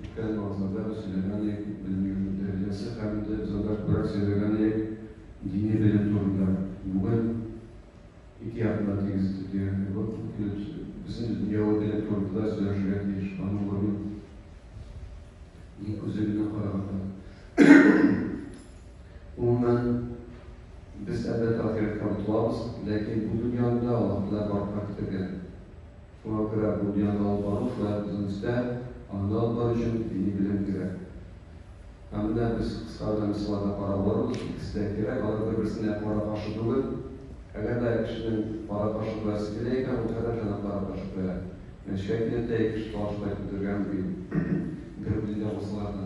Үткән вазада сөйләгәне белмим, дәрҗәсе һәм дә задашбрак сөйләгәне дини белем турында. Бүген ике якны тигез итеп дигән кебек үк килеп чыгып, без инде дөньяви белем турында да сөйләшергә тиеш, аның урыны дин күзе белән караганда. Гомумән, без, әлбәттә, ахирәткә омтылабыз, ләкин бу дөньяны да Аллаһы Тәгалә барлыкка китергән. Програ бу дөньяны алып бару шулай ук үзебездә анда алып бару өчен дини белем кирәк. Һәм менә без кыска гына мисалларда карап барырбыз, икесе дә кирәк, алар бер-берсенә кара-каршы түгел. Әгәр дә кешенең кара-каршы куясы килә икән, ул һәр нәрсәне кара-каршы куя. Мәчеткә килеп тә ике кеше талашып кайтып бетергән, ди. Бер үзе дә булсалар да.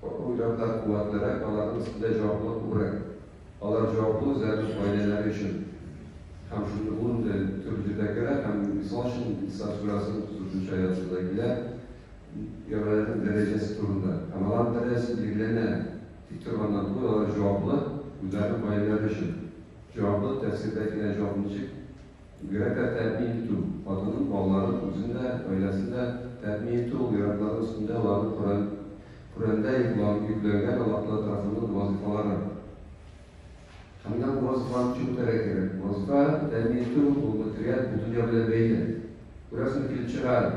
Каты уйларда куатлырак, аларның өстендә җаваплылык күбрәк. Алар җаваплы үзләренең гаиләләре өчен. Һәм шундый ун төр җирдә керә һәм, мисал өчен, Исра сүрәсенең утыз дүртенче аятында килә, ярларның дәрәҗәсе турында. Һәм аларның дәрәҗәсе билгеләнә тик торганнан түгел, алар җаваплы үзләренең гаиләләре өчен. Җаваплы, тәфсирдә килә, җавап ничек? Бигрәк тә тәэмин итү, хатынын, балаларын, үзен дә, гаиләсен дә тәэмин итү ул ир-атларның өстендә, аларның Коръән, Коръәндә йоклан, йөкләнгән Аллаһтагала тарафыннан вазыйфалары. Һәм менә бу вазыйфаны ничек үтәргә кирәк? Вазыйфа тәэмин итү, ул материаль, бу дөнья белән бәйле. Күрәсең, килеп чыга әле.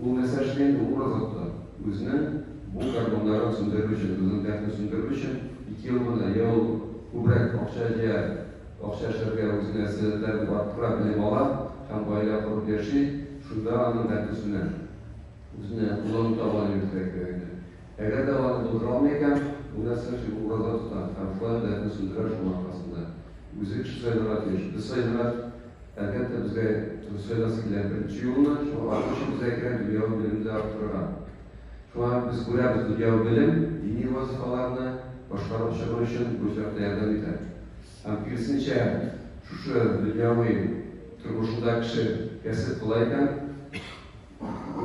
Ул нәрсә эшли инде ул азакта? Үзенең бу гармуннарын сүндерер өчен, үзенең дәртен сүндерер өчен ике юл гына, йә ул күбрәк акча җыя, акча эшләргә үзенә сәләтләр дип арттыра, белем ала һәм гаилә корып яши, шунда аның дәрте сүнә. Үзенә куллану табаны йөртергә кирәк инде. Әгәр дә аларны булдыра алмый икән, ул нәрсә эшли, ул ураза тота һәм шулай ук дәртен сүндерә, шуның аркасында үзе кеше сайларга тиеш. Без сайлыйбыз. Әлбәттә, безгә сайласы килә беренче юлны, шуңа аның өчен безгә кирәк дөньяви белемне дә арттырырга. Шуңа без күрәбез, дөньяви белем дини вазифаларны башкарып чыгу өчен бу очракта ярдәм итә. Һәм киресенчә, шушы дөньяви тормышында кеше кәсеп кыла икән,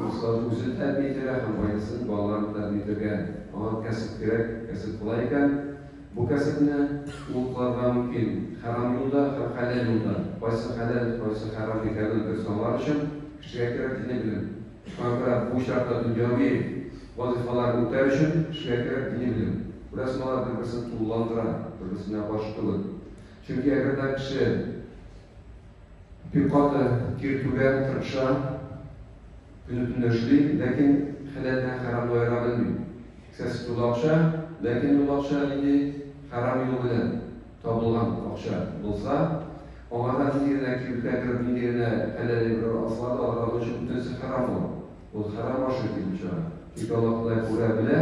Руслан үзен тәэмин итәргә һәм гаиләсен, балаларын тәэмин итәргә аңа кәсеп кирәк. Кәсеп болай икән, бу кәсепне ул кылырга мөмкин, хәрам юлда һәм хәләл юлда. Кайсы хәләл, кайсы хәрам икәнен дөрес аңлар өчен, кешегә кирәк дини белем. Шуңа күрә бу очракта дөньяви вазыйфаларны үтәр өчен кешегә кирәк дини белем. Күрәсең, алар бер-берсен тулыландыра, бер-берсенә каршы түгел. Чөнки әгәр дә кеше. Бик каты тир түгә, тырпша. Көне-төнлә эшли, ләкин хәләлдән хәрамны аера белми. Кесәсе тулы акча, ләкин ул акча нинди хәрам юл белән табылган акча булса, аңа да нинди генә кибеткә кереп, нинди генә хәләл әйберләр алсалар да, алар аның өчен бөтенесе хәрам ул. Ул хәрам ашый, дип чыга. Тик Аллаһ Ходай күрә, белә.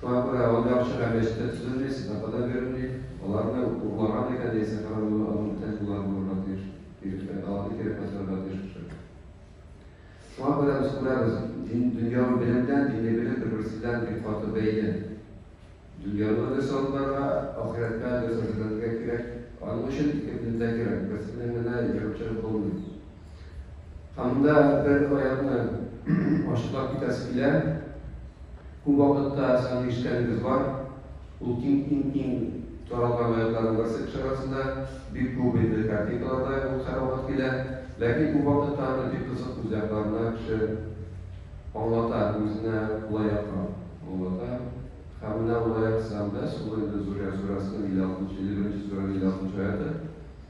Фактлар алынып чыга мәчеттә төзелми, сәдака да бирелми, аларны урлаган икән яисә каравыллы аның тән куллары булырга тиеш, дигәндәй, аларны кире кайтарырга тиеш кеше. Шуңа күрә без күрәбез, дин, дөньяви белемдән, дини белем бер-берсе белән бик каты бәйле. Дөньялыгы дөрес алынырга, ахирәткә дөрес әзерләнергә кирәк. Аның өчен ике белем дә кирәк, берсенең генә йогынтырып булмый. Анда бер аякны ачыклап китәсе килә. Күп вакытта сезнең ишеткәнегез бар. Ул иң иң иң таралган аякларның берсе кеше арасында. Бик күп инде картинкаларда ул һәрвакыт килә. Ләкин күп вакытта аны бик кызык үз якларына кеше аңлата, үзенә кулай якка аңлата. Һәм менә ул аяк сызам без, ул инде Зурия сүрәсенең 56 нчы, 51 нче сүрәнең 56 нчы аяты.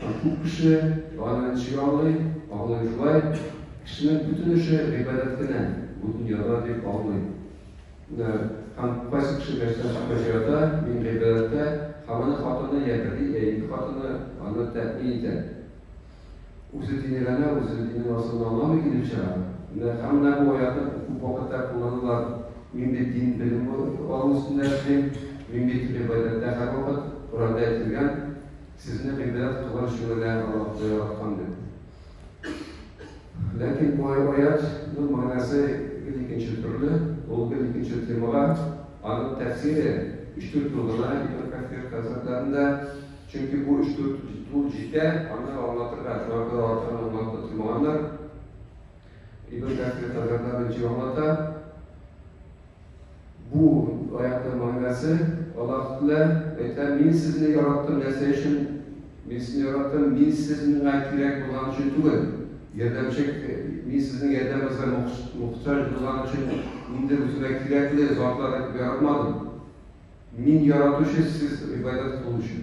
Һәм күп кеше аны ничек аңлый? Аңлый шулай, кешенең бөтен эше гыйбадәт кенә, бу дөньяда дип аңлый. Һәм кайсы кеше мәчеттән чыкмыйча ята, мин гыйбадәттә, һәм аны хатыны йә бер, йә ике хатыны аны тәэмин итә. Үзе дини генә, үзе диннең асылын аңламый килеп чыга. Һәм менә бу аятны күп вакытта кулланалар, Мин бит дин белем алу өстендә эшлим, мин бит гыйбадәттә һәрвакыт, Коръәндә әйтелгән, Сезне милләт туган җиренә оратты яраткан дип. Ләкин бу аятның мәгънәсе гел икенче төрле, ул гел икенче темага, аның тәфсире өч-дүрт юл гына Ибн Кәфир хәзрәтләрендә, чөнки бу өч-дүрт юл җитә, аны аңлатырга, шуңа күрә артыгын аңлатып тормаганнар. Ибн Кәфир хәзрәтләре ничек аңлата? Бу аятның мәгънәсе, Аллаһ Тәгалә әйтә, Мин сезне яраттым нәрсә өчен? Мин сезне яраттым, мин сез миңа кирәк булган өчен түгел, ярдәмче, мин сезнең ярдәмегезгә мохтаҗ булган өчен инде үземә кирәкле затлар итеп яратмадым. Мин яратучы сез гыйбадәт кылу өчен.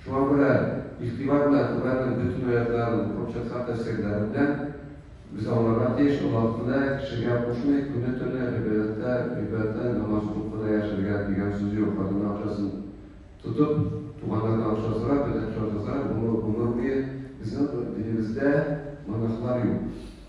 Шуңа күрә игътибар белән Коръәннең бөтен аятьләрен укып чыкса тәфсирләреннән без аңларга тиеш, Аллаһ Тәгалә кешегә кушмый, көне-төне гыйбадәттә, гыйбадәттән намаз укып кына яшәргә, дигән сүз юк, хатынның акчасын тотып, туганнардан акча сорап, бөтен акчаны сорап, гомер буе. Безнең динебездә монахлар юк.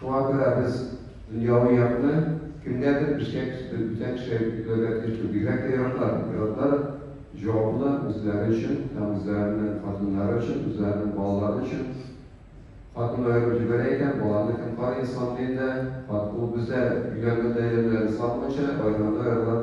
Шуңа күрә без дөньяви якны кемгәдер эшкә кертеп, бүтән кешегә йөкләргә кертү бигрәк тә яраталар. Пилотлар җавапны үзләре өчен һәм үзләренең хатыннары өчен, үзләренең балалары өчен. Хатыным аерып җибәрә икән, баланы кем карый, исламлы илдә, хатыны ул бездә, өйләнгәндә, ирләрен санамыйча, аерганда аерылыр.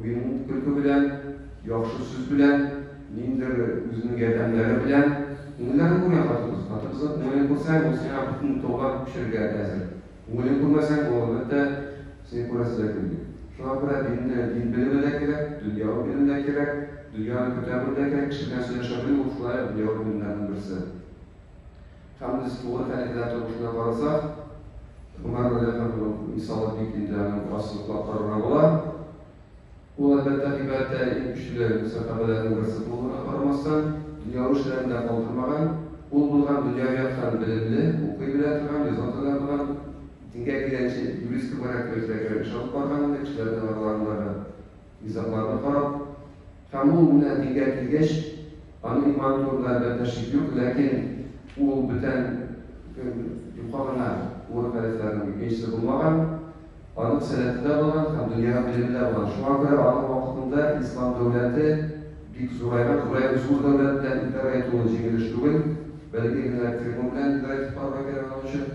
Уен-көлке белән, яхшы сүз белән, ниндидер үзенең ярдәмнәре белән күңелләрен күргән хатын-кыз. Хатын-кызның күңелен күрсәң, ул сиңа бөтен тауга күчәргә әзер. Күңелен күрмәсәң, ул, әлбәттә, сине күрәсе дә килми. Шуңа күрә динне дин белеме дә кирәк, дөньяви белем дә кирәк, дөньяны күтәрүе дә кирәк. Кеше белән сөйләшә белү, ул шулай ук дөньяви белемнәрнең берсе. Һәм без туган әлеһеләр тормышына карасак, Гомәр Вәлиәхмәтуллин мисалы бик инде аны бераз ныклап карарга була. Ул, әлбәттә, гыйбадәттә иң көчле сәхабәләрнең берсе булуына карамастан, дөньяви эшләрен дә калдырмаган, ул булган дөньяви яктан белемле, укый белә торган, яза таный торган, дингә килгәнче, юрист кебегрәк тә үзгә кебек эш алып барган иде, кешеләрнең араларындагы. Низагларны карап, Камул менә дигә килгәч, аның иманы турында, әлбәттә, шик юк, ләкин ул бүтән көн юка гына Нур хәлифләрнең икенчесе булмаган, аның сәләте дә булган һәм дөньяга белеме дә булган. Шуңа күрә аның вакытында ислам дәүләте бик зурайган, зурайып, зур дәүләт белән идарә итү ул җиңелеш түгел, бәләкәй генә фирма белән идарә итеп карарга кирәк аның өчен.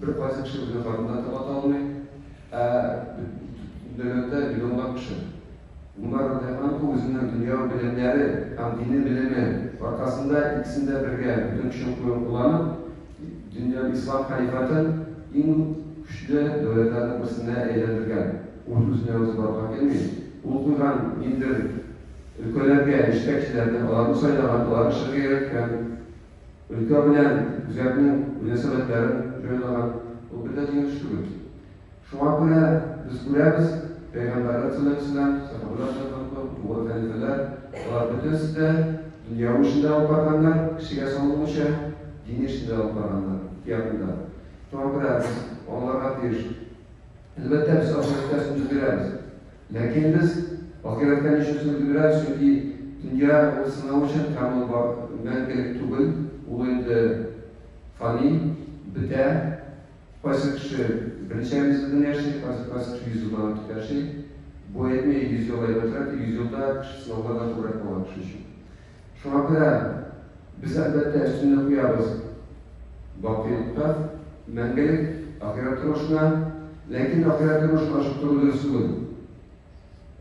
Бер кайсы кеше үзенең карынына тыңлата алмый, ә дөньяда миллионлап кеше. Гомәр радиаллаһу анһу үзенең дөньяви белемнәре һәм дини белеме аркасында икесен дә бергә, бөтен көчен куеп кулланып, дөньяда ислам халифатын иң көчле дәүләтләрнең берсенә әйләндергән. Ул үзенә үзе барырга килми. Ул куйган ниндидер өлкәләргә җитәкчеләрне, аларны сайлаган, аларга эшләргә өйрәткән. Өлкә белән үзәкнең мөнәсәбәтләрен җайлаган ул бер дә җиңелеш түгел. Шуңа күрә без күрәбез, пәйгамбәрләр сәләф-исләм, сәхабәләр сәләф-икъбал, олуг хәлифәләр, алар бөтенесе дә дөньяви эшне дә алып барганнар, кешегә салынмыйча, дини эшне дә алып барганнар ихтыятында. Шуңа күрә без аңларга тиеш, әлбәттә, без ахирәткә өстенлек бирәбез. Ләкин без ахирәткә ничәсен белдерәбез, чөнки дөнья ул сынау өчен һәм ул бар мәңгелек түгел, ул инде фани, бетә. Кайсы кеше берничә мизгелдән яши, кайсы кайсы кеше йөз елдан артык яши. Бу әйтми, йөз ел әйбәтрәк, йөз елда кеше сынаулардан күбрәк кала кеше өчен. Шуңа күрә без, әлбәттә, өстенлек куябыз бакыйлыкка, мәңгелек ахирәт тормышына. Ләкин ахирәт тормышын ашыктыру дөрес түгел.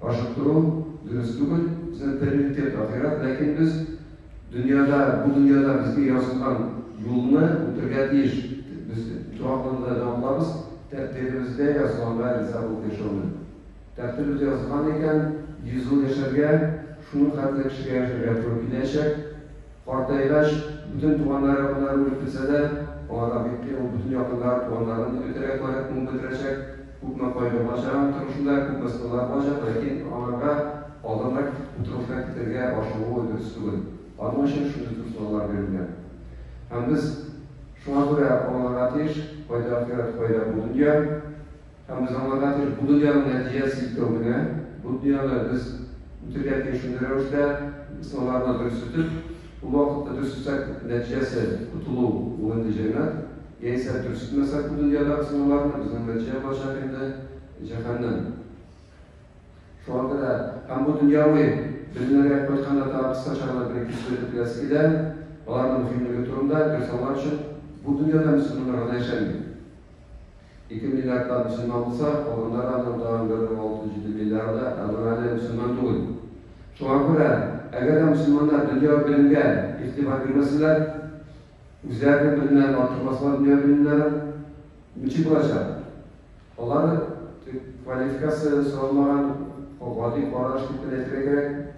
Ашыктыру дөрес түгел. Безнең приоритет ахирәт, ләкин без дөньяда, бу дөньяда безгә ясалган юлны үтәргә тиеш. Без дога кылырга да омтылабыз, тәкъдиребездә язганга риза булып яшәүне. Тәртибез язылган икән, йөз ел яшәргә, шуның хәтле кешегә яшәргә туры киләчәк. Картайгач, бөтен туганнары якыннары үлеп китсә дә, аңа да бик кыен, ул бөтен якыннарын, туганнарын да көтәргә кирәк, ул бетерәчәк, күпме кайгы булачак аның тормышында, күпме сынаулар булачак, ләкин аңарга алданрак китеп утыргысына китәргә ашыгуы дөрес түгел. Аның өчен шундый зур сынаулар бирелгән. Һәм без шуңа күрә аңларга тиеш, кайда ахирәт, кайда бу дөнья. Һәм без аңларга тиеш, бу дөньяның нәтиҗәсе икәү генә, бу дөньяны без үтергә тиеш шундый рәвештә, сынауларны дөрес үтеп, ул вакытта дөрес үтсәк, нәтиҗәсе котылу, ул инде җәннәт, яисә дөрес үтмәсәк бу дөньядагы сынауларны, безнең нәтиҗә булачак инде җәһәннәм. Шуңа күрә һәм бу дөньяви белемнәргә кайтканда тагы кыскача гына бер-ике сүз әйтеп беләсе килә, аларның мөһимлеге турында, дөрес аңлар өчен, бу дөньяда мөселманнар гына яшәми. Ике миллиардта мөселман булса, калганнары аннан тагын бер бер алты-җиде миллиарды әгъза әле мөселман түгел. Шуңа күрә, әгәр дә мөселманнар дөньяви белемгә игътибар бирмәсәләр, үзләренең белемнәрен арттырмасалар дөньяви белемнәрен, ничек булачак? Алар квалификация соралмаган гади кара эш дип кенә әйтергә кирәк.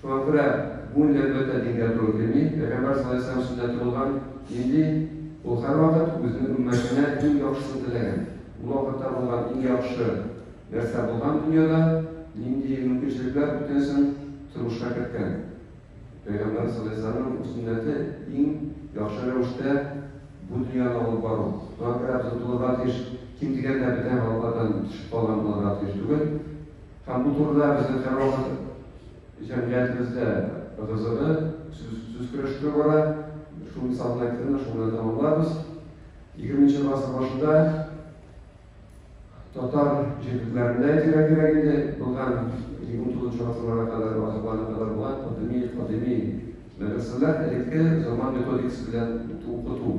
Шуңа күрә бу инде, әлбәттә, дингә туры килми. Пәйгамбәр саллаллаһу галәйһи ва сәлләм сүзендә тотылган нинди? Ул һәрвакыт үзенең өммәтенә иң яхшысын теләгән. Ул вакытта булган иң яхшы нәрсә булган дөньяда нинди мөмкинчелекләр бүтәнсен тормышка керткән. Пәйгамбәр саллаллаһу галәйһи ва сәлләмнең сөннәте иң яхшы рәвештә бу дөньяны алып бару. Шуңа күрә без омтылырга тиеш. Ким дигәндә бетә һәм алардан төшеп калган булырга тиеш түгел. Һәм бу турыда безнең һәрвакыт җәмгыятебездә ыгы-зыгы, сүз көрәштерү бара. Шул мисалны әйттем дә, шул белән тәмамларбыз. Егерменче гасыр башында татар җирлекләрендә кирәк-кирәк инде булган 29 гасырларга кадәр, гасырларга кадәр булган кадими, кадими мәдрәсәләр элекке заман методикасы белән укыту.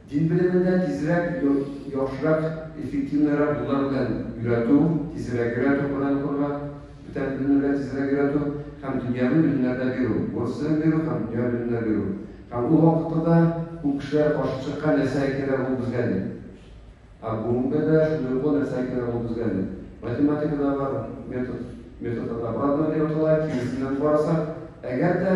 Дин белемендә тизрәк, яхшырак, эффективнырак юллар белән өйрәтү, тизрәк өйрәтү, Коръән укырга, бүтән белемнәргә тизрәк өйрәтү һәм дөньяви белемнәрдә бирү, урыс телен бирү һәм дөньяви белемнәр бирү. Һәм ул вакытта да күп кешеләр каршы чыккан нәрсә кирәк ул безгә дип. Ә бүгенгә дә шундый ук нәрсә кирәк ул безгә дип. Математикада бар метод, метод от обратного дип атала, киресеннән карасак, әгәр дә,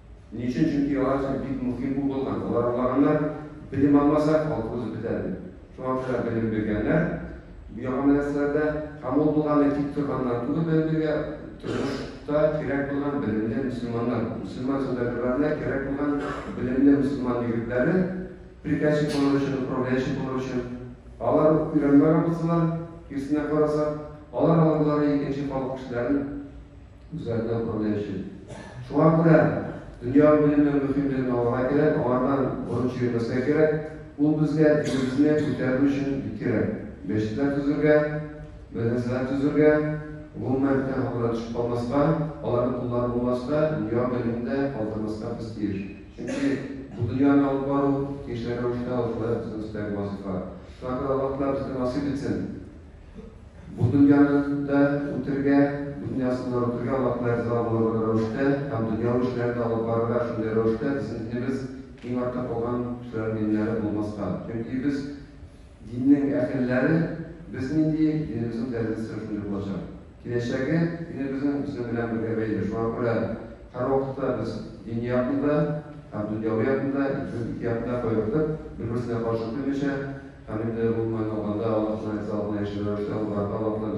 Ни өчен? Чөнки алар өчен бик мөһим бу булган. Алар аңлаганнар, белем алмасак, халык узып бетә дип. Шуңа күрә белем биргәннәр бу яңа мәдрәсәләрдә. Һәм ул булганы тик торганнан түгел, белем бирергә тормышта кирәк булган белемле мөселманнар, мөселман сәүдәгәрләренә кирәк булган белемле мөселман егетләре приказчик булыр өчен, управляющий булыр өчен. Алар уку өйрәнмәгән булсалар, киресенә карасак, алар алырлары икенче халык кешеләрен. Үзләренә үпкәләү өчен. Шуңа күрә дөньяви белемнең мөһимлеген аңларга кирәк, аңардан борын чөермәскә кирәк. Ул безгә динебезне күтәрер өчен бик кирәк. Мәчетләр төзергә, мәдрәсәләр төзергә, гомумән, фән хакына төшеп калмаска, аларның куллары булмаска, дөньяви белемне дә калдырмаска без тиеш. Чөнки бу дөньяны алып бару, тиешле рәвештә алып бару безнең өстәге вазыйфа. Шуңа күрә Аллаһ Тәгалә безгә насыйп итсен! Бу дөньяны да үтәргә, дөньясын да үтәргә Аллаһка риза булырлык рәвештә һәм дөньяви эшләрне дә алып барырга шундый рәвештә безнең динебез иң артта калган кешеләр диннәре булмаска. Чөнки без диннең әһелләре, без нинди, динебезнең тәрәзәсе шундый булачак. Киләчәге динебезнең безнең белән бергә бәйле. Шуңа күрә Һәр вакытта без дини якны да һәм дөньяви якны да, икебез ике якны да кайгыртып, бер-берсенә каршы килмичә һәм инде, гомумән алганда, Аллаһ Субханаһу ва Тәгаләгә риза булган яшьле рәвештә аңларга таләп кылабыз.